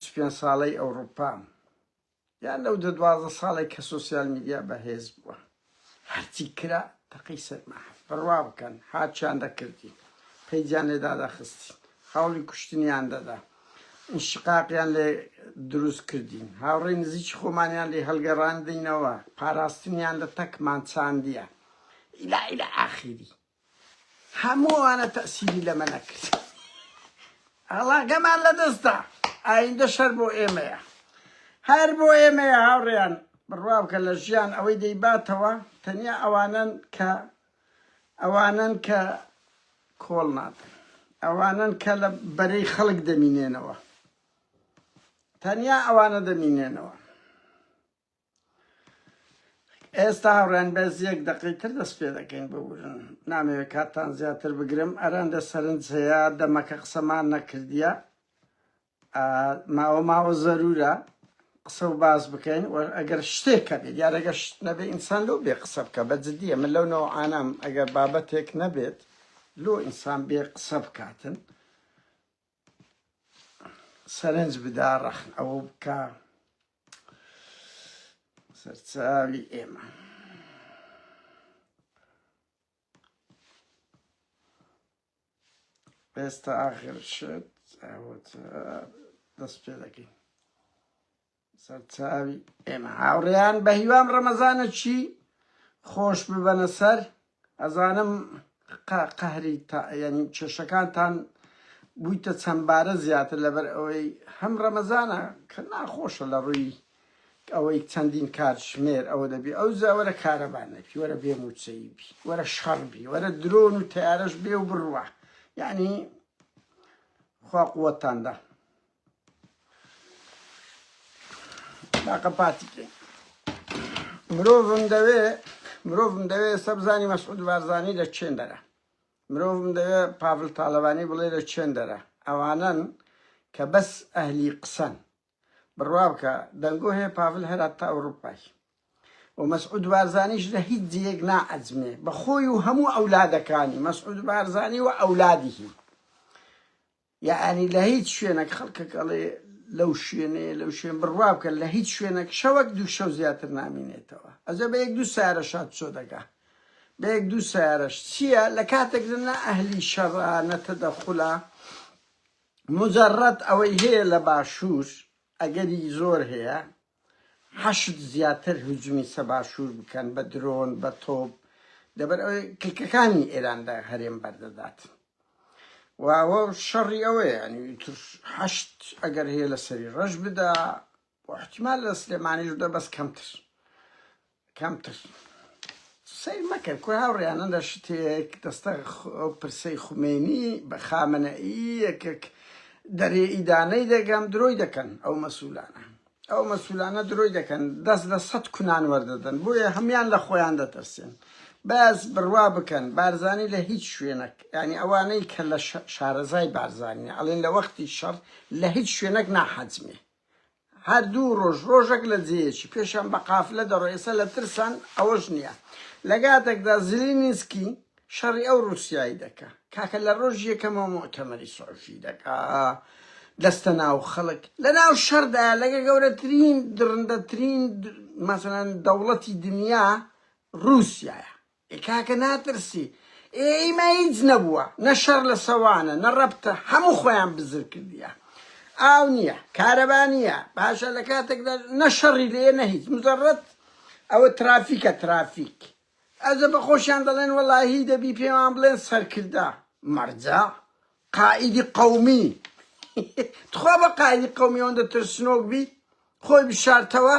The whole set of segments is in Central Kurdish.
چ پێنج ساڵەی ئەوڕوپام یان لەو دە دوازدە ساڵەی کە سۆسیال میدیا بەهێز بووە هەرچی کرا تەقەی سەرما بڕوا بکەن هاچیان دەکردین پەیجیان لێ دادەخستین هەوڵی کوشتنیان دەدا شقاقیان لێ دروست کردین هاوڕێ نزیکی خۆمانیان لێ هەلگەڕاندینەوە پاراستنیان لە تەکمان چاندیە ئیلا ئیلا ئاخیری هەموو ئەوانە تەئسیری لەمە نەکرد ئاڵاگەمان لە دەست دا ئایندە شەر بۆ ئێمەیە هەر بۆ ئێمەیە هاوڕێیان بڕوابکە لە ژیان ئەوەی دەیباتەوە تەنیا ئەوانن کە ئەوانن کە کۆڵ نادن ئەوانن کە لە بەرەی خەڵک دەمینێنەوە تەنیا ئەوانە دەمینێنەوە ئێستا هاوڕێیان بەس یەک دەقەی تر دەست پێ دەکەین ببورن نامەوێت کاتتان زیاتر بگرم ئەرەندە سەرنج هەیە دەمەکە قسەمان نەکردیە ماوە ماوە زەرورە قسە و باس بکەین و ئەگەر شتێکە بێت یارەگە شت نەبێ ئینسان لەو بێ قسە بکە بە جددیە من لەو نەوە ئانام ئەگەر بابەتێک نەبێت لۆ ئینسان بێ قسە بکاتن سەرنج بدا ڕەخن ئەوە بکە سەرچاوی ئێمە ئێستا ئاخر شت دەست پێ دەکەین سەرچاوی ئێمە هاوڕێیان بەهیوام ڕەمەزانەکی خۆش ببەنە سەر ئەزانم قەهری یعنی کێشەکانتان بوویتە چەندبارە زیاتر لەبەر ئەوەی هەم ڕەمەزانە کە ناخۆشە لە ڕووی ئەوەی چەندین کات ژمێر ئەوە دەبی ئەو زاوەرە کارەبان نەبی وەرە بێ موچەی بی وەرە شەڕ بی وەرە درۆن و تارەش بێ و بڕوە یعنی خوا قوتاندا قەپاتی کەین مرۆڤم دەوێ مرۆڤم دەوێ ئێستا بزانی مەسعود بارزانی لە چێن دەرە مرۆڤم دەوێ پاڤل تاالبانی بڵێ لە چێن دەرە ئەوانن کە بەس ئەهلی قسەن بڕوا بکە دەنگۆ هەیە پاڤل هەرات تا ئەوروپای و مەسعود بارزانیش لە هیچ جێک نائەزمێ بەخۆی و هەموو ئەولادەکانی مەسعود بارزانی و ئەولادیهی یەعنی لە هیچ شوێنەک خەڵکەک ئەڵێ لەو شوێنەیە لەو شوێن بڕوا بکە لە هیچ شوێنەک شەوەک دوو شەو زیاتر نامینێتەوە ئەجە بە یەک دوو سارە شاد چۆ دەگا بە یەک دوو سارەش چییە لە کاتێک نە ئەهلی شەڕە نەتەدەخولە مجرد ئەوەی هەیە لە باشوور ئەگەری زۆر هەیە حەشد زیاتر هجومی سە باشور بکەن بە درۆن بە تۆپ لەبەر ئەوەی کلکەکانی ئێران لە هەرێم بەردەدات و ئەوە شەڕی ئەوەیە ینی تر حەشت ئەگەر هەیە لە سەری ڕەش بدا و احتیمال لە سلێمانیش دە بەس کەمتر کەمتر سەیر مەکەن کورە هاوڕێیانن لە شتێک دەستە ئەو پرسەی خومێنی بە خامنەئی یەکێک دەرێ ئیدانەی دەگەم درۆی دەکەن ئەو مەسولانە ئەو مەسولانە درۆی دەکەن دەست لە سەد کونان وەردەدەن بۆیە هەمان لە خۆیان دەترسێن بەس بڕوا بکەن بارزانی لە هیچ شوێنەک ینی ئەوانەی کە لە شارەزای بارزانانی ئەڵێن لە وەختی شەڕ لە هیچ شوێنەک ناحەجمێ هەر دوو ڕۆژ ڕۆژەک لە جێیەکی پێشیان بە قافلە دەڕۆ ئێستا لە ترسان ئەوەش نییە لە گاتەکدا زیلینسکی شەڕی ئەو ڕوسیایی دەکا کاکە لە ڕۆژ یەکەمەوە مۆتەمەری سۆفی دەکا دەستە ناو خەڵک لە ناو شەردا لەگە گەورەترین دڕندەترین مەسەن دەوڵەتی دنیا ڕوسایە ئێ کاکە ناترسی ئێ ئیمە هیچ نەبووە نە شەڕ لە سەوانە نە ڕەبتە هەموو خۆیان بزر کردیە ئاو نییە کارەبا نییە باشە لە کاتێکدا نە شەڕی لێ نە هیچ مزەڕەت ئەوە ترافیکە ترافیک ئەزە بە خۆشیان دەڵێن وەڵاهی دەبی پێمان بڵێن سەرکردە مەرجە قائیدی قەومی تخوا بە قائیدی قەومی ئەوەندە ترسنۆک بی خۆی بشارتەوە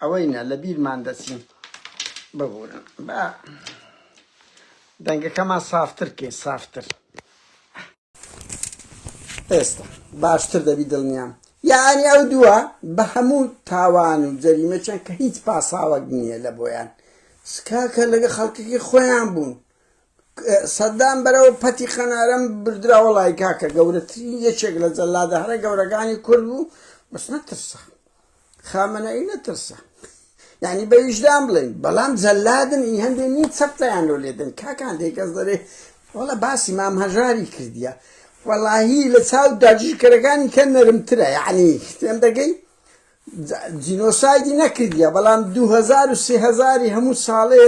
ئەوەی نا لە بیرمان دەچین. ببورن با دەنگەکەمان سافتر کەین سافتر. ئێستا باشتر دەبی دڵنیام. یەعنی ئەو دووە بە هەموو تاوان و جەریمەکیان کە هیچ پاساوەک نییە لە بۆیان سکاکە لەگە خەڵکەکەی خۆیان بوون سەدام بەرەو پەتی قەنارم بردرا وەڵای کاکە گەورەترین یەکێک لە جەلادە هەرە گەورەکانی کورد بوو بەس نەترسا خامەنەی نەترسا یعنی بە ویژدان بڵێن بەڵام جەلادن ئی هەندێ نی چەپتەیان لۆ لێدن کاکان دێکەس دەرێ وەڵە باسی مام هەژاری کردیە وەڵاهی لە چاو داگیرکەرەکانی کە نەرمترە یعنی تێم دەگەی جینۆسایدی نەکردیە بەڵام دوو هەزار و سێ هەزاری هەموو ساڵێ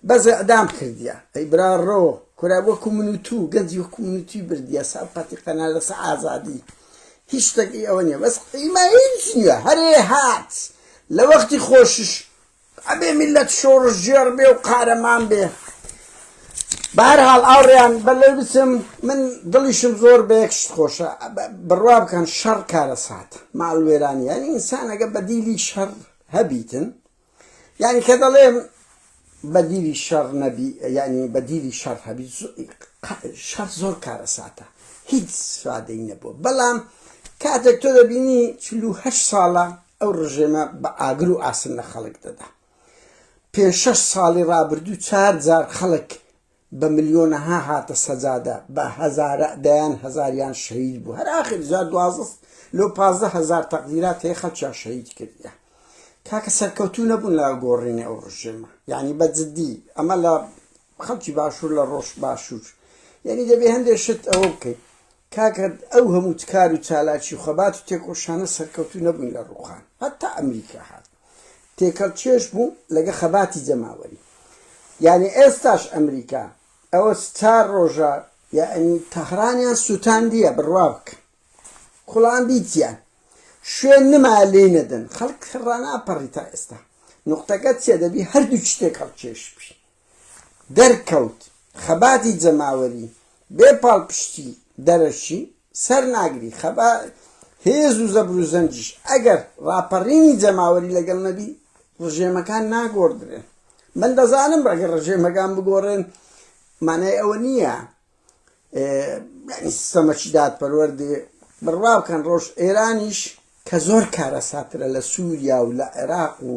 بەس ئیعدام کردیە ئەی برا ڕۆ کورە وەکو من و تو گەنجی وەکو من و توی بردیە سەر قەتی قەنا لەسەر ئازادی هیچ شتێک ئی ئەوە نیە بەس ئیمە هیچ نیە هەرێ هات لە وەختی خۆشیش ئەبێ میللەت شۆڕشگێڕ بێ و قارەمان بێ. بە هەر حاڵ ئاوڕێیان بە لێ بچم، من دڵیشم زۆر بە یەک شت خۆشە، بڕوا بکەن شەڕ کارەساتە، ماڵوێرانییە، یانی ئینسان ئەگەر بەدیلی شەڕ هەبیتن، یانی کە دەڵێم بەدیلی شەڕ نەبی، یانی بەدیلی شەڕ هەبیت، شەڕ زۆر کارەساتە، هیچ فادەی نەبووە، بەڵام کاتێک تۆ دەبینی چل و هەشت ساڵە ئەو ڕژێمە بە ئاگر و ئاسن لە خەڵک دەدا. پێنج شەش ساڵی ڕابردوو چار جار خەڵک بە ملیۆنەها هاتە سەجادە، بە هەزارە دەیان هەزاریان شەهید بوو. هەر ئاخر جا دوازدە لۆ پازدە هەزار تەقدیرات هەیە خەڵکیان شەهید کردیە. کاکە سەرکەوتوو نەبوون لە گۆڕینی ئەو ڕژێمە. یانی بە جدی ئەمە لە خەڵکی باشوور لە ڕۆژ باشوور یانی دەبێ هەندێ شت ئەوە بکەین. کاکە ئەو هەموو کار و چالاکی و خەبات و تێکۆشانە سەرکەوتوو نەبوون لە ڕووخان هەتا ئەمریکا هات تێکەڵ کێش بوو لەگە خەباتی جەماوەری یانی ئێستاش ئەمریکا ئەوە چار ڕۆژە یانی تەهرانیان سوتاندیە بڕوا بکە کوڵان بیتیان شوێن نما لێی نەدەن خەڵک ڕاناپەڕی تا ئێستا نوقتەکە چیە دەبی هەردووکی تێکەڵ کێش بی دەرکەوت خەباتی جەماوەری بێ پاڵپشتی دەرەکی سەر ناگری، خەبا هێز و زەبر و زەنگیش ئەگەر ڕاپەڕینی جەماوەری لەگەڵ نەبی ڕژێمەکان ناگۆڕدرێن، من دەزانم ئەگەر ڕژێمەکان بگۆڕێن مانای ئەوە نییە یانی سیستەمەکی دادپەروەر دێ بڕوا بکەن ڕۆژ ئێرانیش کە زۆر کارەساترە لە سووریا و لە عێراق و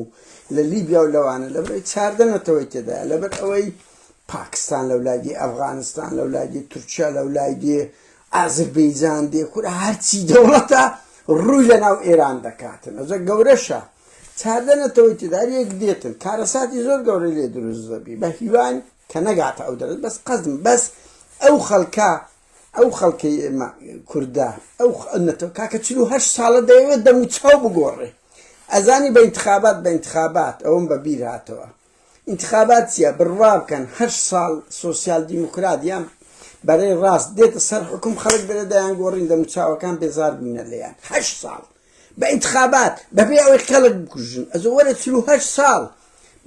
لە لیبیا و لەوانە لەبەرەوەی چاردە نەتەوەی تێدا لەبەر ئەوەی پاکستان لەو لایدی ئەفغانستان لەو لایدی تورکیا لەو لایدی ئازربەیجان دێ کورە هەرچی دەوڵەتە ڕووی لە ناو ئێران دەکاتن ئەجە گەورەشە چاردە نەتەوەی تێدار یەک دێتن کارەساتی زۆر گەورە لێ دروست دەبی بە هیوان کە نەگاتە ئەو دەرەجە بەس قەزم بەس ئەو خەڵکە ئەو خەڵکەی ئێمە کوردە ئەو نەتەوە کاکە چلو هەشت ساڵە دەیەوێت دەمو چاو بگۆڕێ ئەزانی بە انتخابات بە انتخابات ئەوم بە بیر هاتەوە انتخابات چییە بڕوا بکەن هەر ساڵ سوسیال دیموکرات یان بەرەی ڕاست دێتە سەر حکوم خەڵک دەرە دەیان گۆڕین دەموچاوەکان بێزار بوونە لێیان هەشت ساڵ بە ئینتخابات بەبێ ئەوەی خەڵک بکوژن ئەزۆ وەرە چل و هەشت ساڵ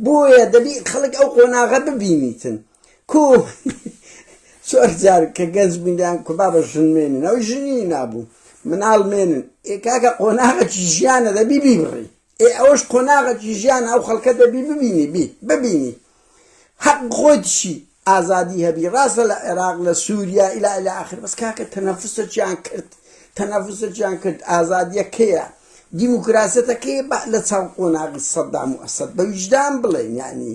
بۆیە دەبی خەڵک ئەو قۆناغە ببینیتن کو چۆر جار کە گەنج بووین دەیان کو بابە ژن مێنن ئەو ژنی نابوو مناڵ مێنن ئێ کاکە قۆناغەکی ژیانە دەبی بیبڕی ئێ ئەوەش قۆناغەکی ژیانە ئەو خەڵکە دەبی ببینی بی ببینی هەق خۆیتشی ئازادی هەبی ڕاستە لە عێراق لە سوریا الی الی اخر بەس کاکە تەنەفوسەکیان کرد تەنەفوسەکیان کرد ئازادیە کەیە دیموکراسەتە کەیە بە لە چاو قۆناغی سەدام و ئەسەد بە ویژدان بڵێن یعنی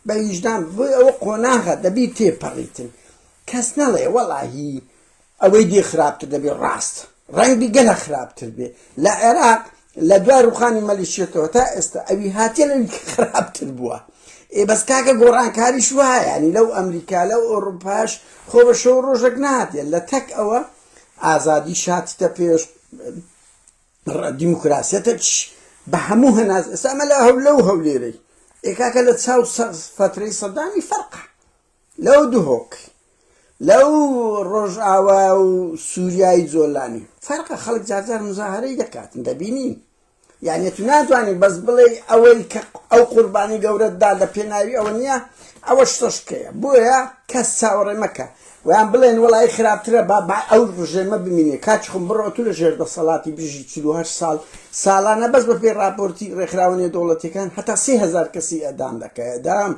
بە ویژدان بۆی ئەوە قۆناغە دەبی تێپەڕیتن کەس نەڵێ وەڵاهی ئەوەی دی خراپتر دەبێ ڕاست ڕەنگبی گەلە خراپتر بێ لە عێراق لە دوای ڕوخانی مەلیشیەتەوە تا ئێستا ئەوی هاتیە لەوی خراپتر بووە ئێ بەس کاکە گۆڕانکاریش وایە ینی لەو ئەمریکا لەو ئۆڕوپاش خۆ بە شەو ڕۆژەک ناتێ لە تەک ئەوە ئازادی شاتتە پێش دیموکراسیەتەش بە هەموو هەناز ئێستا ئەمە لە هەولە و هەولێرەی ئێکاکە لە چاو سەقز فترەی سەدامی فەرقە لەو دهۆک لەو ڕۆژئاوا و سوریای جۆلانی فەرقە خەڵک جارجار مزاهەرەی دەکاتن دەبینین یعنی تو ناتوانین بەس بڵێ ئەوەی کە ئەو قوربانی گەورەتدا لە پێناوی ئەوە نییە ئەوە شتەشکەیە بۆیە کەس چاوەڕێ مەکە ویان بڵێن وڵی خراپترە با با ئەو ڕژێمە بمینێ کاچ خم بڕۆ تو لە ژێر دەسەڵاتی بژی چه ساڵ ساڵانە بەس بە پێی راپۆرتی ڕێکخراوە نێودەوڵەتەکان هەتا سهزار کەسی ئەدام دەکەدام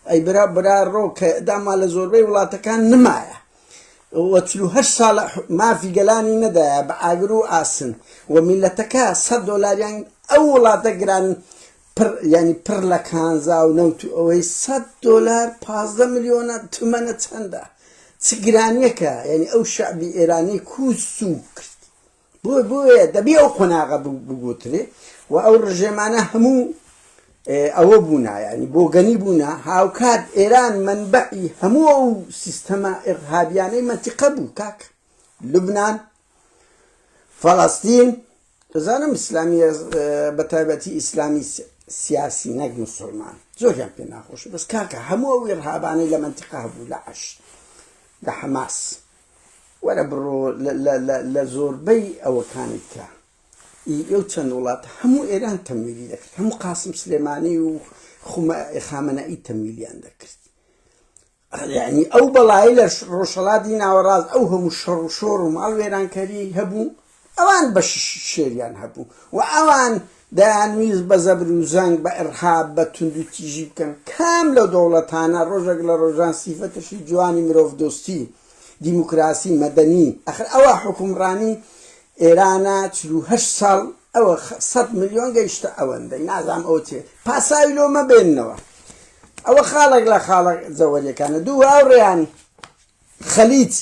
ئەی برا برا ڕۆ کە داما لە زۆربەی وڵاتەکان نمایە و چل و هەشت ساڵە مافی گەلانی نەدایە بە ئاگر و ئاسن و میلەتەکە سەد دۆلاریان ئەو وڵاتە گران پر یعنی پر لە کانزا و نەوت و ئەوەی سەد دۆلار پازدە ملیۆنە تمەنە چەندە چ گرانیەکە یعنی ئەو شعبی ئێرانی کوس سوک کرد بۆیە دەبێ ئەو قۆناغە بگۆترێ و ئەو ڕژێمانە هەموو ئەوە بوونا یعنی بۆگەنی بوونا هاوکات ئێران منبعی هەموو ئەو سیستەمە ئێرهابیانەی مەتیقە بوو کاک لبنان فەڵاستین دەزانم ئیسلامی بە تایبەتی ئیسلامی سیاسی نەک مسلمان زۆریان پێ ناخۆش بەس کاکە هەموو ئەو ئێرهابانەی لە منتیقا بوو لە عش لە حەماس وەرە بڕۆ لە زۆربەی ئەوەکانت کە ئی ئەو چەند وڵات هەموو ئێران تەمویلی دەکرد هەموو قاسم سلێمانی و خامەنەئی تەمویلیان دەکرد یعنی ئەو بەڵایی لە ڕۆژهەڵاتی ناوەڕاست ئەو هەموو شەڕ و شۆڕ و ماڵ وێرانکەری هەبوو ئەوان بەشیشی شێریان هەبوو و ئەوان دەیانویست بە زەبر و زەنگ، بە ئیڕهاب، بە توندوتیژی بکەن. کام لەو دەوڵەتانە ڕۆژێک لە ڕۆژان سیفەتێکی جوانی مرۆڤدۆستی، دیموکراسی، مەدەنی، ئەخر ئەوە حوکمڕانی ئێرانە چل و هەشت ساڵ ئەوە سەد ملیۆن گەیشتە ئەوەندەی نازانم ئەوە چێ پاساوی لۆ مەبێننەوە ئەوە خاڵێک لە خاڵە جەوەریەکانە دوو هاوڕێیان خەلیج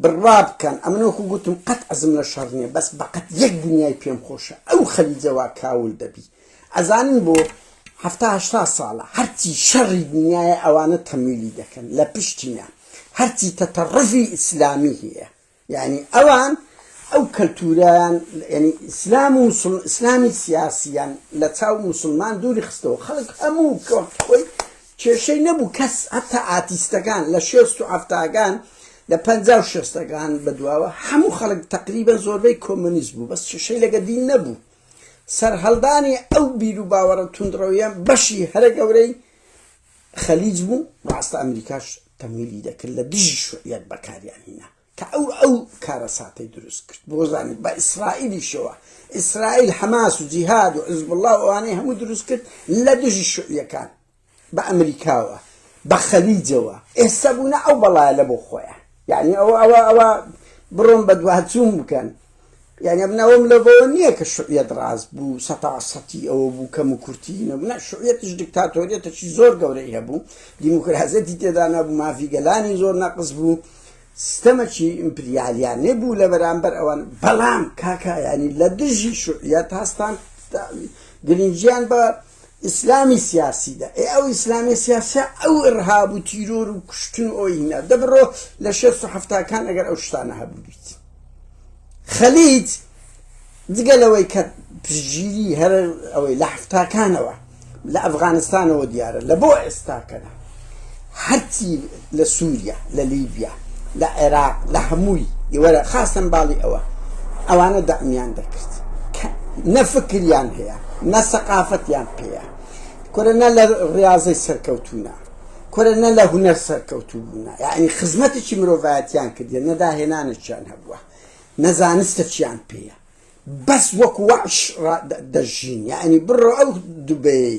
بڕوا بکەن ئەمن وەکو گوتم قەت عەزم لە شەڕ نیە بەس بەقەت یەک دنیای پێم خۆشە ئەو خەلیجە وا کاول دەبی ئەزانن بۆ هەفتا هەشتا ساڵە هەرچی شەڕی دنیای ئەوانە تەمویلی دەکەن لە پشتینە هەرچی تەتەڕفی ئیسلامی هەیە یعنی ئەوان ئەو کەلتوریان ینی ئیسلام و ئیسلامی سیاسیان لە چاو مسلمان دووری خستەوە خەڵک هەموو کەوەی کێشەی نەبوو کەس هەتا ئاتیستەکان لە شێست و حەفتاکان لە پەنجا و شێستەکان بەدواوە هەموو خەڵک تەقریبەن زۆربەی کۆمۆنیست بوو بەس کێشەی لەگە دین نەبوو سەرهەڵدانی ئەو بیرو باوەڕە توندڕەویە بەشی هەرە گەورەی خەلیج بوو ڕاستە ئەمریکاش تەمویلی دەکرد لە دژی شوعیەت بەکاریان هینا. کە ئەو ئەو کارەساتەی دروست کرد بۆ زانی بە ئیسرائیلیشەوە ئیسرائیل حەماس و جیهاد و عزبڵا ئەوانەی هەموو دروست کرد لە دژی شوعیەکان بە ئەمریکاوە بە خەلیجەوە ئێستا بوونە ئەو بەڵایە لە بۆ خۆیان یعنی ئەوە ئەوە ئەوە بڕۆن بە دواتچوون بکەن یانی من ئەوەم لەڤەوە نییە کە شوعیەت ڕاست بوو سەتا سەتی ئەوە بوو کەم و کورتی نەبوو نە شوعیەتیش دیکتاتۆریەتەکی زۆر گەورەی هەبوو دیموکراسیەتی تێدا نەبوو مافی گەلانی زۆر نەقز بوو سیستەمەکی ئیمپریالیانێ بوو لە بەرامبەر ئەوان بەڵام کاکایانی لە دژی شوعیەت هەستان گرنگیان بە ئیسلامی سیاسی دە ئێ ئەو ئیسلامی سیاسە ئەو ڕهاب و تیرۆر و کوشتن و ئۆینا دەبڕۆ لە شێست و هەفتاکان ئەگەر ئەو شتانە هەبووبیت خەلیت جگە لەوەی کە پژگیری هەر ئەوەی لە هەفتاکانەوە لە ئەفغانستانەوە دیارە لە بۆ ئێستاکەدا هەرچی لە سوریا لە لیبیا لە عێراق لە هەمووی وەرە خاستەن باڵی ئەوە ئەوانە دەعمیان دەکرد کە نە فکریان هەیە نە سەقافەتیان پێیە کورە نە لە ڕاضەی سەرکەوتونە کورە نە لە هونەر سەرکەوتو بوونە یعنی خزمەتێکی مرۆڤایەتیان کردێ نەداهێنانێکیان هەبووە نەزانستە چیان پێیە بەس وەک وەش دەژین یعنی بڕۆ ئەو دوبەی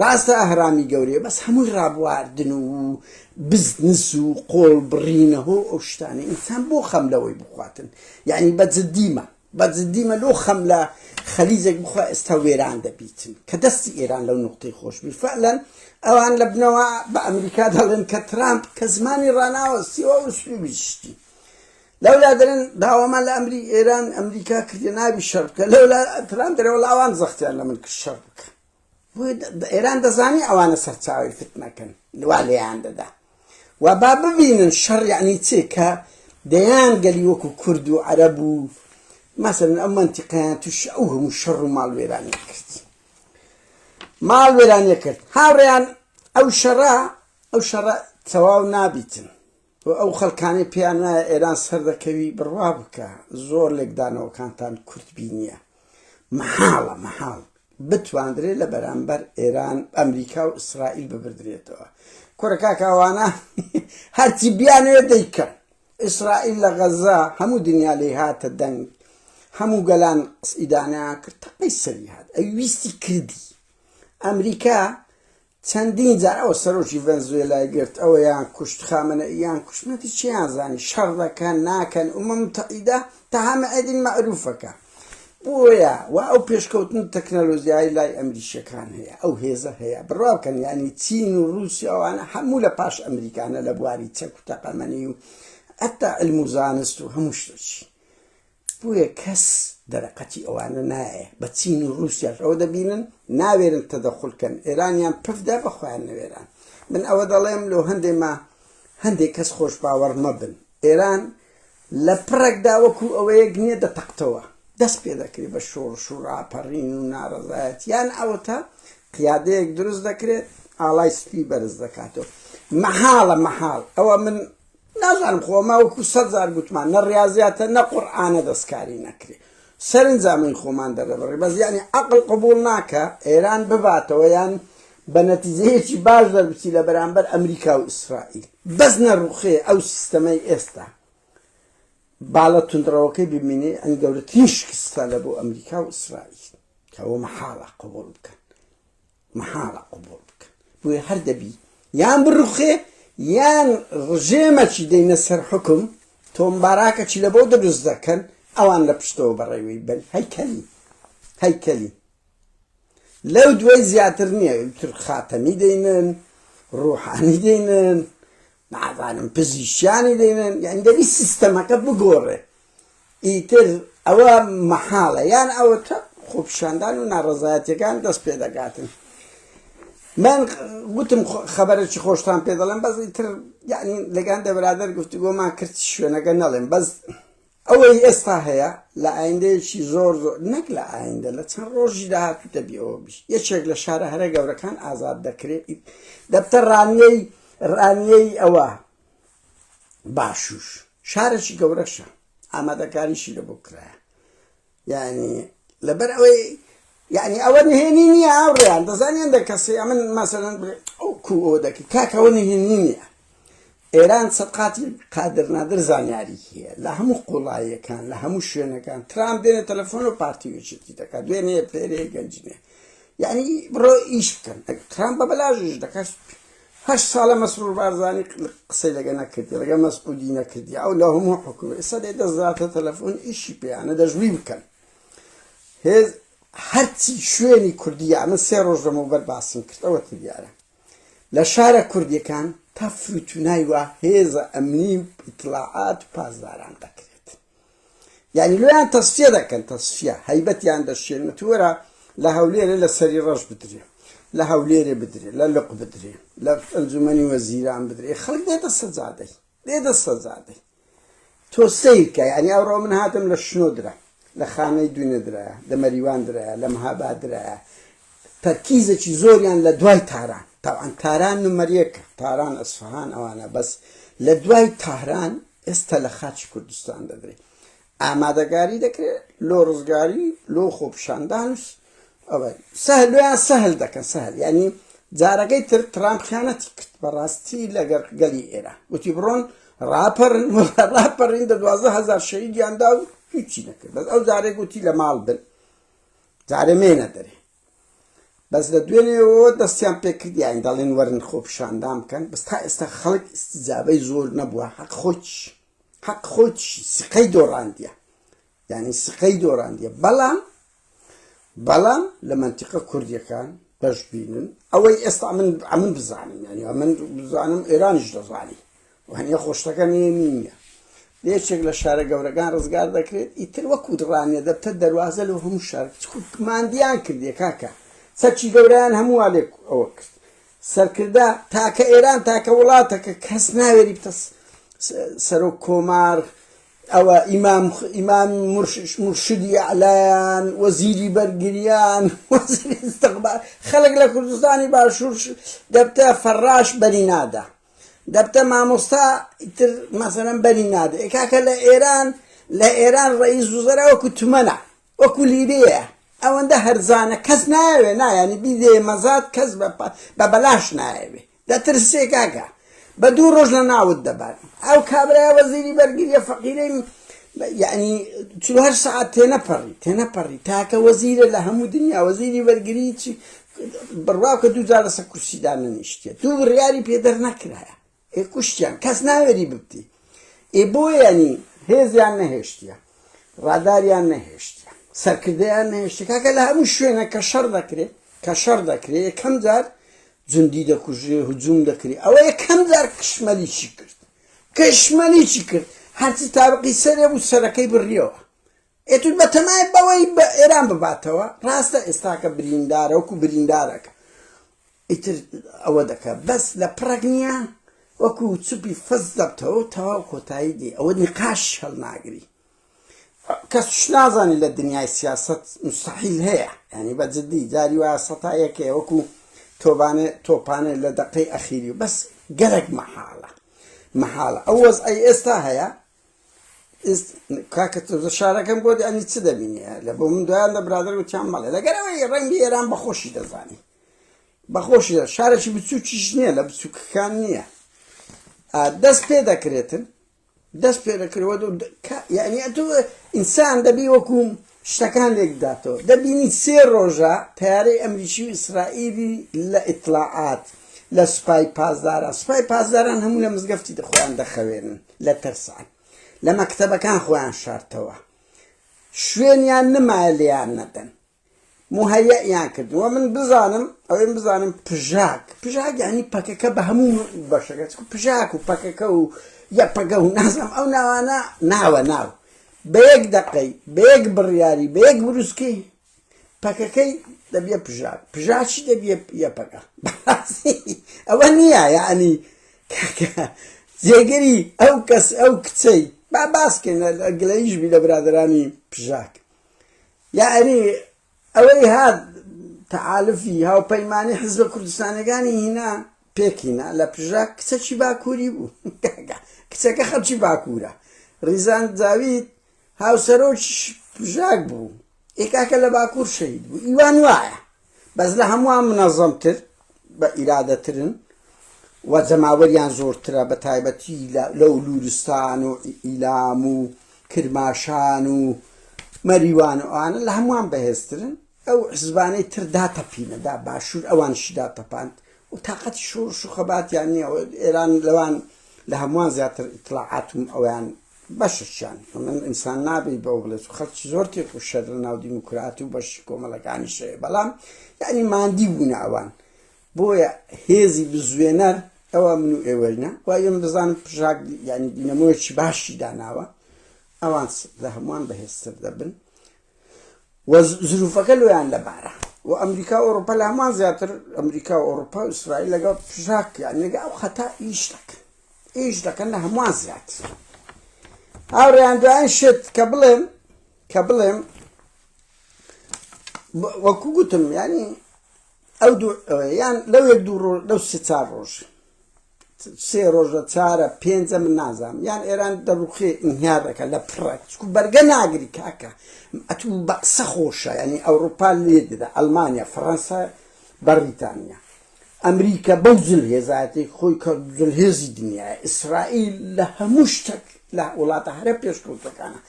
ڕاستە ئەهرامی گەورەیە بەس هەمووی ڕابواردن و بزنس و قۆڵ بڕینەهۆ ئەو شتانە ئینسان بۆ خەم لەوەی بخواتن یعنی بە جددیمە بە جددیمە لۆ خەم لە خەلیجێک بخوا ئێستا وێران دەبیتن کە دەستی ئێران لەو نقطەی خۆش بی فعلەن ئەوان لە بنەوە بە ئەمریکا دەڵێن کە ترامپ کە زمانی ڕناوە سیوە و سلوبی شتی لەولا دەرن داوامان لە ئەمری ئێران ئەمریکا کردە ناوی شەر بکە لەولا ترام دەرەوە لاوان زەختیان لە من کرد شەر بکە بۆیە ئێران دەزانی ئەوانە سەرچاوەی فتنەکەن وا لێیان دەدا و با ببینن شەڕ یعنی چێ کە دەیان گەلی وەکو کورد و عەرەب و مەسەن ئەم منتیقیان توش ئەو هەموو شەڕ و ماڵ وێرانی کرد ماڵ وێرانیە کرد هاوڕێیان ئەو شەڕە ئەو شەڕە تەواو نابیتن و ئەو خەلکانەی پێیان نایە ئێران سەردەکەوی بڕوا بکە زۆر لێکدانەوەکانتان کورت بینیە مەحاڵە مەحاڵ بتواندرێت لە بەرامبەر ئێران ئەمریکا و ئیسرائیل ببردرێتەوە کورەکاکاوانە هەرچی بیانێ دەیکەن ئیسرائیل لە غەزە هەموو دنیا لی هاتە دەنگ هەموو گەلان ئیدانیان کرد تەقەی سەری هات ئەوی ویستی کردی ئەمریکا چەندین جار ئەوە سەرۆکی ڤەنزوێلای گرت ئەویان کوشت خامەنەئیان کوشت نەتی چیان زانی شەڕ دەکەن ناکەن ئومە موتەعیدە تەها مەعەدین مەعروفەکە بۆیە وا ئەو پێشکەوتن و تەکنەلۆژیای لای ئەمریکیەکان هەیە ئەو هێزە هەیە بڕوا بکەن یانی چین و رووسیا ئەوانە هەموو لە پاش ئەمریکانە لە بواری چەک و تەقەمەنی و حتا علم و زانست و هەموو شتەچی بۆیە کەس دەرەقەتی ئەوانە نایێ بە چین و رووسیاش ئەوە دەبینن ناوێرن تەدەخول کەن ئێرانیان پفدا بە خۆیان نەوێران من ئەوە دەڵێم لۆ هەندێ ما هەندێک کەس خۆش باوەڕ مەبن ئێران لە پڕێکدا وەکو ئەوەیەک نییە دەتەقتەوە دەست پێ دەکرێت بە شۆڕش و راپەڕین و ناڕەزایەت یان ئەوەتا قیادەیەک دروست دەکرێت ئاڵای سپی بەرز دەکاتەوە مەحاڵە مەحاڵ ئەوە من نازانم خۆ ئەمە وەکو سەد جار گوتمان نە ڕیازیاتە نە قورئانە دەستکاری نەکرێ سەرنجا من خۆمان دەردەبڕی بەس یعنی عەقڵ قبوڵ ناکە ئێران بباتەوە یان بە نەتیجەیەکی باش دەربچی لە بەرامبەر ئەمریکا و ئیسرائیل بەس نەڕوخێ ئەو سیستەمەی ئێستا باڵە توندڕەوەکەی ببینێ ئەنی گەورەترین شکستە لە بۆ ئەمریکا و ئیسرائیل کەەوە مەحاڵە قبول بکەن مەحاڵە قبوڵ بکەن بۆیە هەر دەبی یان بڕوخێ یان ڕژێمەکی دەینە سەر حکم تۆم باراکەکی لە بۆ دروست دەکەن ئەوان لە پشتەوە بەڕێوەی بن هەیکەلی هەیکەلی لەو دوای زیاتر نییە تر خاتەمی دەینن ڕوحانی دەینن نازانم پزیشکیانی دەیڵێن یانی دەبی سیستەمەکە بگۆڕێ ئیتر ئەوە مەحاڵە یان ئەوە تە خۆپیشاندان و ناڕزایەتەکان دەست پێ دەگاتن من گوتم خەبەرێکی خۆشتان پێ دەڵێم بەس ئیتر یعنی لەگەن دەبرادەر گفتوگۆمان کرد شوێنەکە نەڵێم بەس ئەوەی ئێستا هەیە لە ئایندەیەکی زۆر زۆر، نەک لە ئایندە، لە چەند ڕۆژی داهاتوو دەبی ئەوە بیت. یەکێک لە شارە هەرە گەورەکان ئازاد دەکرێت، دەبتە ڕانیەی، ڕانیەی ئەوە، باشوور. شارێکی گەورەشە، ئامادەکاریشی لەبۆ کرایە. یانی لەبەر ئەوەی یعنی ئەوە نهێنی نییە ئاوڕیان دەزانانی هەندە کەسی ئەمن مەسەرەن ئەو کو ئەو دەکی کاکەەوە نهێنی نییە ئێران سەقاتی قادر نادر زانیاری هەیە لە هەموو قوڵایەکان لە هەموو شوێنەکان ترام دێنە تەلەفۆن و پارتی وچێتی دەکات دوێنێ پێرێ گەنجنێ یعنی بڕۆ ئیش بکەن ترام بە بەلاژش دەکات هەشت سالە مەسرور بارزانی قسەی لەگە نەکردی ڕگە مەسعودی نەکردی ئەو لە هەموو حکوم ئێستا دێ دەزاتە تەلەفۆن ئیشی پێیانە دەژوی بکەن هێز هەرچی شوێنی کوردیا من سێ ڕۆژ لەمەوبەر باسم کردەوە تریارە لە شارە کوردیەکان تا فروتونای وا هێزە ئەمنی و ئیتلاعات و پاسداران دەکرێت یانی لۆیان تەسفیە دەکەن تەسفیە هەیبەتیان دەشێن وتی وەرە لە هەولێرێ لە سەری ڕەش بدرێ لە هەولێرێ بدرێ لە لق بدرێ لە ئەنجومەنی وەزیران بدرێ خەڵک دێتە سەجادەی دێتە سەجادەی تۆ سیرکە یعنی ئەوڕۆ من هاتم لە شنۆ درا لە خانەی دوینە درایە لە مەریوان درایە لە مەهابا درایە تەرکیزێکی زۆریان لە دوای تاران تاوان تاران نمەریەکە تاران ئەسفهان ئەوانە بەس لە دوای تاران ئێستا لە خاچی کوردستان دەدرێ ئامادەگاری دەکرێت لۆ ڕزگاری لۆ خۆپشاندان ئەوە سەهلویان سەهل دەکەن سەهل ینی جارەکەی تر ترامپ خیانەتی کرد بەڕاستی لەگەر گەلی ئێرە وتی بڕۆن ڕاپەرن ڕاپەرین دە دوازە هزار شەیدیاندا و هیچی نەکرد بەس ئەو جارێک وتی لە ماڵ بن جارێ مێنە دەرێ بەس لە دوێنێەوە دەستیان پێکردیان دەڵێن وەرن خۆپیشاندان بکەن بەس تا ئێستا خەڵک ئستیجابەی زۆر نەبووە حەق خۆچ حەق خۆچ سقەی دۆڕاندیە یعنی سقەی دۆڕاندیە بەڵام بەڵام لە منتیقە کوردیەکان بەش بینن ئەوەی ئێستا من ئەمن بزانم یعنی من بزانم ئێرانیش دەزانی وانیە خۆشتەکە نوێ نینیە لە یەکێک لە شارە گەورەکان ڕزگار دەکرێت ئیتر وەکوت ڕانیە دەبتە دەروازە لەو هەموو شار ماندیان کردێ کاکە چەکی گەورەیان هەمووا لێک ئەوە کرد سەرکردە تاکە ئێران تاکە وڵاتەکە کەس ناوێری بتە سەرۆک کۆمار ئەوە ئیمام ئیمام مرشدی ئەلایان وەزیری بەرگریان خەڵک لە کوردستانی باشوور دەبتە فەڕاش بەری نادا دەبتە مامۆستا ئیتر مەسەلەن بەری نادە ئێ کاکە لە ئێران لە ئێران ڕئیس وزەرا وەکو تمەنە وەکو لیرەیە ئەوەندە هەرزانە کەس نایەوێ نایانی بیدێ مەزات کەس بە بەلاش نایەوێ دەترسێ کاکە بە دوو ڕۆژ لە ناوت دەبات ئەو کابرای وەزیری بەرگریە فەقیرەی یعنی چهار سعات تێنەپەڕی تێنەپەڕی تاکە وەزیرە لە هەموو دنیا وەزیری بەرگری چی بڕواکە دووجار لەسەر کورسی دانەنیشتێ دوو بڕیاری پێ دەرنەکرایە ئێ کوشتیان کەس ناوێری ببتی ئێ بۆیانی هێزیان نەهێشتە ڕاداریان نەهێشتە سەرکردیان نەهێشتە کاکە لە هەموو شوێنە کە شەڕ دەکرێت کە شەڕ دەکرێت یەکەم جار جندی دەکوژێ هجووم دەکرێت ئەوە یەکەم جار کشمەلیی کرد کشمەلیی کرد هەرچی تابقی سەرێ بوو سەرەکەی بڕیەوە ئێتود بەتەمای بەوەی بە ئێران بباتەوە ڕاستە ئێستاکە بریندارە وەکو بریندارەکە ئیتر ئەوە دەکە بەس لە پڕەک نییە وەکو چوپی فەز دەبتەوە تەواو کۆتایی دی ئەوە نیقاش هەڵناگری کەس شنازانی لە دنیای سیاست مستحیل هەیە ینی بە جدی جاری وە سەتا یەکێ وەکو تۆبانێ تۆپانێ لە دەقەی ئەخیری بەس گەرەک مەحاڵە مەحاڵە ئەو وەز ئەی ئێستا هەیە کاکە تۆزە شارەکەم بۆ دانی چ دەبینێ لە بۆ من دویان لە برادر وتیان مەڵێ لەگەرەوەی ڕەنگی ئێران بەخۆشی دەزانی بەخۆشی دە شارێکی بچووکیش نییە لە بچووکەکان نییە دەست پێ دەکرێتن دەست پێ دەکرەوە یعنی ئەتو ئینسان دەبی وەکوم شتەکان لێک بداتەوە دەبینیت سێ ڕۆژە تەیارەی ئەمریکی و ئیسرائیلی لە ئیتڵاعات لە سوپای پاسداران سوپای پاسداران هەموو لە مزگەفتی دەخۆیان دەخەوێنن لە ترسان لە مەکتەبەکان خۆیان شارتەوە شوێنیان نمایە لێیان نەدەن مهەیەیان کردووە من بزانم ئەوێن بزانم پژاک پژاک ینی پەکەکە بە هەموو بەشەکە پژاک و پەکەکە و یە پەگە و نازم ئەو ناوانە ناوە ناو بە یەک دەقەی، بە یەک بڕیاری، بە یەک بروسکەی پەکەکەی دەبیە پژا، پژا چی دەبیە یە پەکە. بەڕاستی ئەوە نییە یەعنی کاکە جێگری ئەو کەس ئەو کچەی با باس کەین گلەییش بی لە برادەرانی پژاک یەعنی ئەوەی هات تەحالفی هاوپەیمانی حیزبە کوردستانیەکانی هینا پێک هینا لە پژاک کچەکی باکووری بوو کچەکە خەڵکی باکوورە ڕیزان جاوید هاوسەرۆکی پژاک بوو ئێکاکە لە باکوور شەید بوو ئیوان وایە بەس لە هەمووان منەزەمتر بە ئیرادەترن و جەماوەریان زۆرترە بە تایبەتی لەو لورستان و ئیلام و کرماشان و مەریوان و ئەوانە لە هەمووان بەهێزترن ئەو حزبانەی تر داتەپینەدا باشوور ئەوانشی داتەپاند و تااقەتی شۆڕش و خەباتیان نییە ئێران لەوان لە هەمووان زیاتر ئیتلاعاتم ئەویان بەشە چیان من ئینسان نابی بەو بڵێت و خەرچ زۆر تێک و شەر لە ناو دیموکراتی و بەشی کۆمەڵەکانی شەیە بەڵام یعنی مادی بوونە ئەوان بۆیە هێزی بزوێنەر ئەوە من و ئێوەینە و ئێم بزانم پژاک ینی دینەمۆیەکی باشی داناوە ئەوان لە هەمووان بەهێزتر دەبن و زروفەکە لۆیان لەبارە و ئەمریکا و ئۆروپا لە هەمان زیاتر ئەمریکا و ئۆروپا و ئیسرائیل لەگەڵ پژاکیان لەگە ئەو خەتا ئیش دەکەن ئیش دەکەن لە هەمووان زیاتر هاوڕێیان دوایان شت کە بڵێم کە بڵێم وەکو گوتم ینی ئەو یان لەو یەک دوو ڕۆژ لەو سێ چار ڕۆژ سێ ڕۆژە چارە پێنجە من نازام یان ئێران دەڕوخێ ئینهیار دەکە لە پڕە چکو بەرگە ناگری کاکە ئەتو بە قسە خۆشە ینی ئەوروپا لێ دەدا ئەلمانیا فەڕەنسا بەڕیتانیا ئەمریکا بەو جل هێزاتێک خۆی کە جل هێزی دنیا ئیسرائیل لە هەموو شتێک لە وڵاتە هەرە پێشکەوتەکانە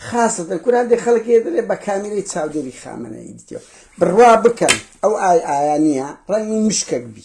خاصەتە کوران دێ خەڵک دەێ بە کامیرەی چاودێری خامەنەی دیتێ بڕوا بکەن ئەو ئای ئایا نییە ڕەنگی مشکەک بی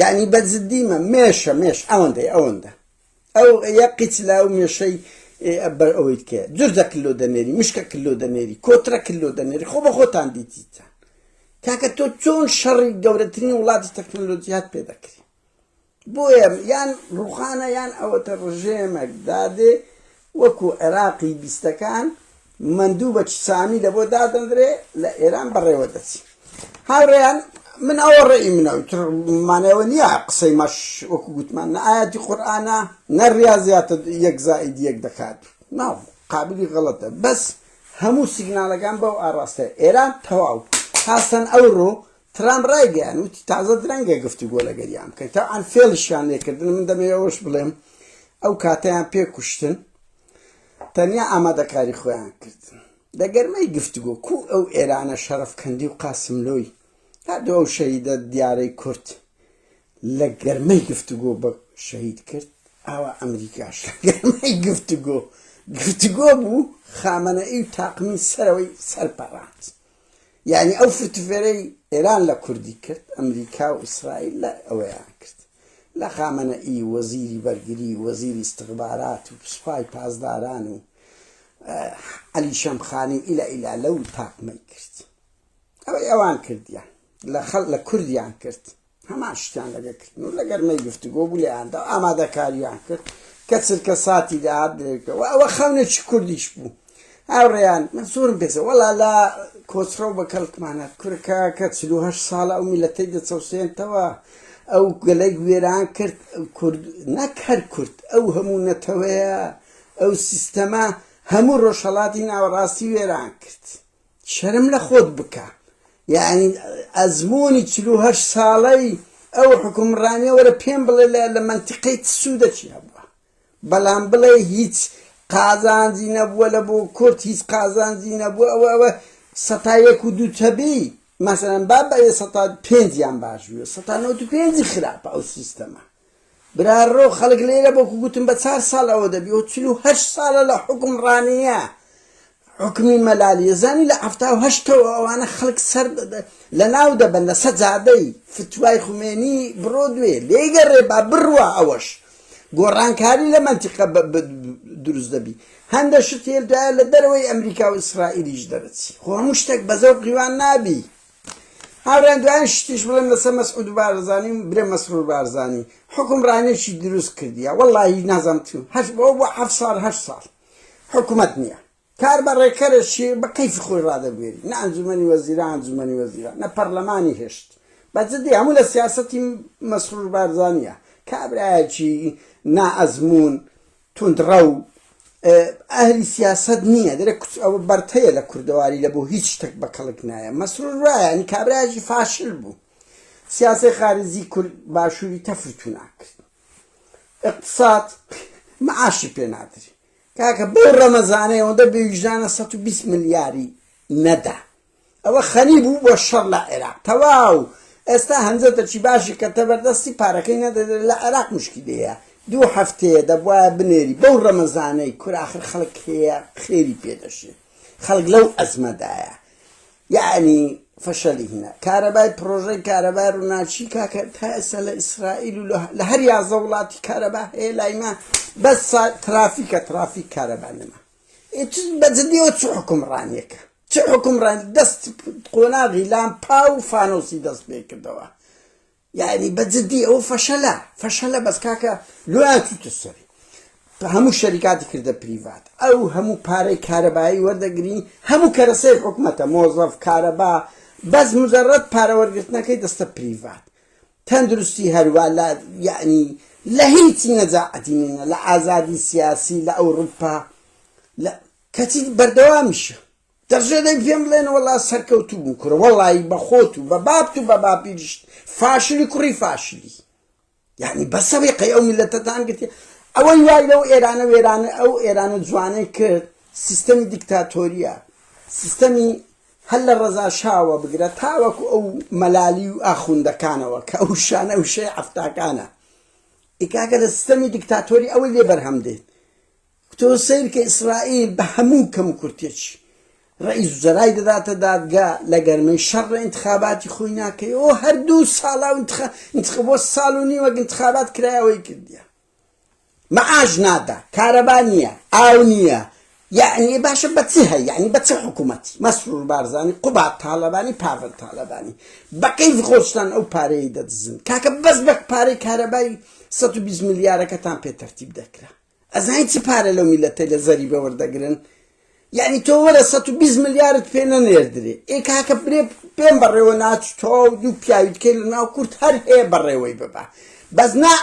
یەعنی بە جدی مە مێشە مێش ئەوەندەی ئەوەندە ئەو یە قیچ لاو مێشەی بەر ئەوەیت کێ جرجە کللو دەنێری مشکە کللو دەنێری کۆترە کللو دەنێری خۆ بە خۆتان دیتیتان کاکە تۆ چۆن شەڕی گەورەترین وڵاتی تەکنەلۆجیات پێ دەکری بۆیە یان ڕوخانە یان ئەوەتە ڕژێمێک دادێ وەکو عێراقی بیستەکان مەندوو بە چسانی لە بۆ دادەندرێ لە ئێران بەڕێوە دەچی هاوڕێیان من ئەوە ڕێی منە تر مانەوە نییە قسەی مەش وەکو گوتمان نە ئاەتی قورآانە نە ڕاضیاتە یەک زائید یەک دەکات ناو قابلی غەڵەتە بەس هەموو سیگنالەکان بەو ئاراستە ئێران تەواو هاسەن ئەوڕۆ ترامپ ڕایگەیاند، وتی تازە درەنگە گفتوگۆ لەگەریان بکەین، تەبعەن فێڵیشیان لێکردن، من دەمەوێت ئەوەش بڵێم ئەو کاتەیان پێ کوشتن، تەنیا ئامادەکاری خۆیان کردن لە گەرمەی گفتوگۆ، کوو ئەو ئێرانە شەڕەفکەندی و قاسملۆی، هەر دوو ئەو شەهیدە دیارەی کورد لە گەرمەی گفتوگۆ بە شەهید کرد، ئاوا ئەمریکاش لە گەرمەی گفتوگۆ، گفتوگۆ بوو، خامەنەئی و تاقمی سەرەوەی سەرپەڕاند. یانی ئەو فرتفێرەی ئێران لە کوردی کرد ئەمریکا و ئیسرائیل لە ئەوەیان کرد لە خامەنە ئی وەزیری بەرگری وەزیری استخبارات و سوپای پاسداران و علی شەمخانی و ئیلا ئیلا لەو تاقمەی کرد ئەوەی ئەوان کردیان لە خەڵ لە کوردیان کرد هەمان شتیان لەگە کردن و لەگەرمەی گفتگۆ بوو لێیاندا ئامادەکاریان کرد کە چرکە ساتی داهات درێکەوە ئەوە خەونێکی کوردیش بوو هاوڕێیان من زۆرم پێزە وەڵا لە کۆچڕە و بە کەڵکمانە کورکە کە چلوهه ساڵە ئەو میلەتەی دەچەوسێنتەوە ئەو گەلێک وێران کرد کورد نەک هەر کورد ئەو هەموو نەتەوەیە ئەو سیستەمە هەموو ڕۆژهڵاتی ناوەڕاستی وێران کرد شەرم لە خۆت بکە یاعنی ئەزموونی چل و هەشت ساڵەی ئەو حکومڕانیە وەرە پێم بڵێ لە لە منتیقەی چ سوودەکی هەبووە بەڵام بڵێ هیچ قازانجی نەبووە لە بۆ کورد هیچ قازانجی نەبووە ئەوە ئەوە سەتا یەک و دوو تەبی مەسەرەن با بە سەتا پێنجیان باش بووە سەتا نەوت و پێنجی خراپە ئەو سیستەمە براڕۆ خەڵک لێرە بەکو گوتم بە چار ساڵ ئەوە دەبی ئەو چل و هەشت ساڵە لە حوکم ڕانیە حوکمی مەلالیە زانی لە حەفتا و هەشتەوە ئەوانە خەڵک سەر لە ناو دەبەن لە سەجادەی فتوای خومێنی بڕۆ دوێ لێگەڕێ با بڕوا ئەوەش گۆڕانکاری لە منتیقە دروست دەبی هەندە شتێل دوایە لە دەرەوەی ئەمریکا و ئیسرائیلیش دەرەچی خۆ هەموو شتێک بەزەو قیوان نابی هاوریان دوایین شتیش بڵێم لەسەر مەسعود بارزانی و برێ مەسرور بارزانی حکم رانێکی دروست کردیە وەڵاهی نازم تیم هەش بۆ بۆ حەف ساڵ هەش ساڵ حکومەت نییە کار بە رێکەرەشی بە کەیف خۆی رادەبوێری نە ئەنجومەنی وەزیران ئەنجومەنی وەزیران نە پەرلەمانی هێشت بە جدی هەموو لە سیاسەتی مەسرور بارزانیە کابراایەکی نا ئەزموون توندڕەو ئەهلی سیاسەت نییە دەرێ کچ ئەوە بەرتەیە لە کوردەواری لە بۆ هیچ شتێک بە کەڵک نایە مەسرور وایە نی کابراژی فاشل بوو سیاسی خارجی کورد باشووری تەفرتو ناکرد اقتصاد معاشی پێ نادری کاکە بەو ڕەمەزانەی ئەوەندە بێویژدانە 120 ملیاری نەدا ئەوە خەنی بوو بۆ شەڕ لە عێراق تەواو ئێستا هەنجەتە چی باشی کەتە بەردەستی پارەکەی نەدەدە لە عێراق مشکیلەیە دوو هەفتەیە دەبوایە بنێری بەو ڕەمەزانەی کوراخر خەڵک هەیە خێری پێدەشێ خەڵک لەو ئەزمەدایە یعنی فەشەلی هینە کارەبای پرۆژەی کارەبای ڕووناچی کاکە تا ئێستا لە ئیسرائیل و لە هەر یازە وڵاتی کارەبا هەیە لایمە بەس ترافیکە ترافیک کارەبا نەما بەجدیەوە چ حکومڕانیەکە چ حکومڕان دەست قۆناغی لامپا و فانۆسی دەست پێ کردەوە یعنی بەجددی ئەو فەشەلە فەشەلە بەس کاکە لۆیاتوتە سەری هەموو شەریکاتی کردە پریڤات ئەو هەموو پارەی کارەبایی وەردەگری هەموو کەرەسەی حکومەتە مۆزەف کارەبا بەس مجرڕەت پارەوەرگرتنەکەی دەستە پریڤات تەندروستی هەروا لە یەعنی لە هیچی نەجاعەتی نینە لە ئازادی سیاسی لە ئەوڕوپا لە کەچی بەردەوامیشە دەژێ دەی پێم بڵێن وەڵا سەرکەوتوو بوو کورە وەڵایی بە خۆت و بە بابت و بە باپیریشت فاشلی کوڕی فاشلی یعنی بەسەوی قەی ئەو میلەتەتان گرتی ئەوەی وای لەو ئێرانە وێرانە ئەو ئێرانە جوانەی کرد سیستەمی دیکتاتۆریە سیستەمی هەر لە ڕەزا شاوە بگرە تاوەکو ئەو مەلالی و ئاخوندەکانەوە کە ئەو شانە وشەی حەفتاکانە ئێ کاکە لە ستەمی دیکتاتۆری ئەوەی لێ بەرهەم دێت تۆ سەیرکە ئیسرائیل بە هەموو کەم و کورتێکی ڕئیس جەرای دەداتە دادگا لە گەرمەی شەڕ انتخاباتی خۆی ناکەی ئەو هەردوو ساڵا انتخ... انتخ... بۆ ساڵ و نیوەک انتخابات کرایەوەی کردیە معاش نادا کارەبا نییە ئاو نییە یەعنی باشە بە چی هەی یعنی بە چ حکوومەتی مەسرور بارزانانی قوبات تاالبانی پاڤل تاالبانی بەقەی خۆشتان ئەو پارەیە دەدزن کاکە بەس بە پارەی کارەبای 120 ملیارەکەتان پێ تەرتیب دەکرا ئەزانین چی پارە لەو میلەتە لە زەری بەوەردەگرن یانی تۆ وەرە سەد و بیست ملیارت پێ نەنێردرێ ئێ کاکە برێ پێم بەڕێوە ناچی تۆو دوو پیاوی تکەی لە ناو کورد هەر هەیە بەڕێوەی ببە بەس نا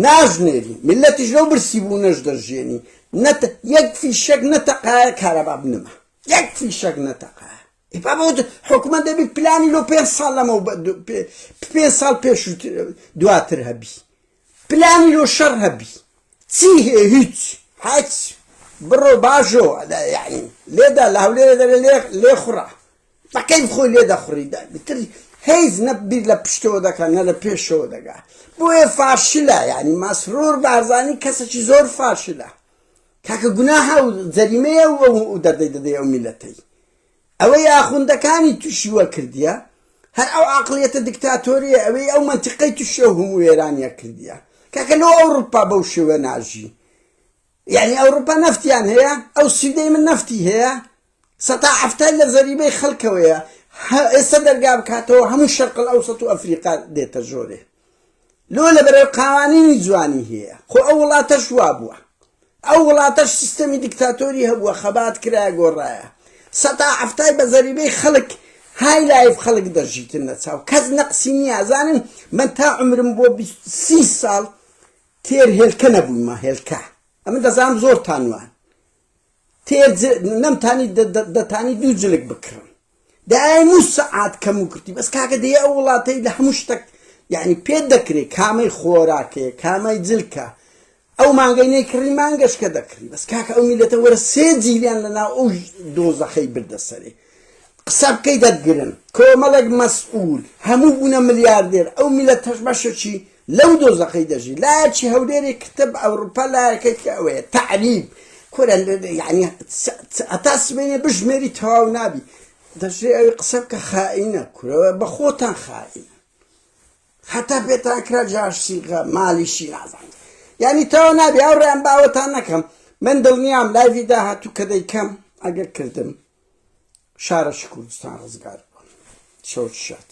ناژنێری ملەتیش لەو برسی بوو نەش دەژێنی نەت یەک فیشەک نەتەقایە کارەبا بنمە یەک فیشەک نەتەقایە بابوت حکومە دەبی پلانی لۆ پێ ساڵ لەمە پێ ساڵ پێش دواتر هەبی پلانی لۆ شەڕ هەبی چی هەیە هیچ هەچ بڕۆ باژۆ یعنی لێدا لە هەولێرە دەرێ لێ لێ خوڕە تەقەی بخۆی لێ دەخوڕی بتر هیچ نە بیر لە پشتەوە دەکە نە لە پێشەوە دەگا بۆیە فاشلە یعنی ماسرۆر بارزانی کەسێکی زۆر فاشلە کاکە گوناها و جەریمەیە و دەردەی دەدەی ئەو میلەتەی ئەوەی ئاخوندەکانی توشی وە کردیە هەر ئەو عەقڵیەتە دکتاتۆرەیە ئەوەی ئەو مەنتیقەی توشی ئەو هەموو وێرانیە کردیە کاکە لۆ ئەوڕوپا بەو شێوە ناژی یەعنی ئەوڕوپا نەفتیان هەیە ئەو سویدەی من نەفتی هەیە سەتا حەفتای لە زەریبەی خەلکەوەیە ئێستا دەرگا بکاتەوە هەموو شەرقل ئەوسەت و ئەفریقا دێتە ژۆرێ لۆ لەبەرەر قاوانینی جوانی هەیە خۆ ئەو وڵاتەش وابوە ئەو وڵاتەش سیستەمی دیکتاتۆری هەبوە خەبات کرایە گۆڕرایە سەتا حەفتای بە زەریبەی خەلک های لایف خەلک دەژیتن لە چاو کەس نەقسی نیە زانن من تا عمرم بۆ بیست سی سال تێر هێلکە نەبویمە هێلکە ئەمن دەزانم زۆر تانوان تێر جە نەم تانی دە دە دە تانی دوو جلک بکڕم دە ئای مو سەعات کەم و کرتی بەس کاکە دەیە ئەو وڵاتەی لە هەموو شتەک یعنی پێت دەکرێ کامەی خۆراکەیە کامای جلکە ئەو مانگەی نەیکڕی مانگەشکە دەکڕی بەس کاکە ئەو میلەتە وەرە سێ جیلیان لە ناو ئەو دۆزەخەی بردە سەرێ قسە بکەی دەتگرن کۆمەڵێک مەسئول هەموو بوونە ملیاردێر ئەو میلەتەش بەشەکی لەو دۆزەخەی دەژی لایەکی هەولێری کتب ئەوروپا لایەکەی کە ئەوەیە تەعریب کورە یعنی ئەتا سبەینێ بژمێری تەواو نابی دەژێ ئەوی قسە بکە خائینە کورەوە بە خۆتان خائینە هەتا پێتان کرا جاشسیغە مالیشی نازان یعنی تەواو نابی ئەو ڕێیان باوەتان نەکەم من دڵنیام لایڤی داهاتوو کە دەیکەم ئەگەر کردم شارەشی کوردستان ڕزگار بوون شەوت شات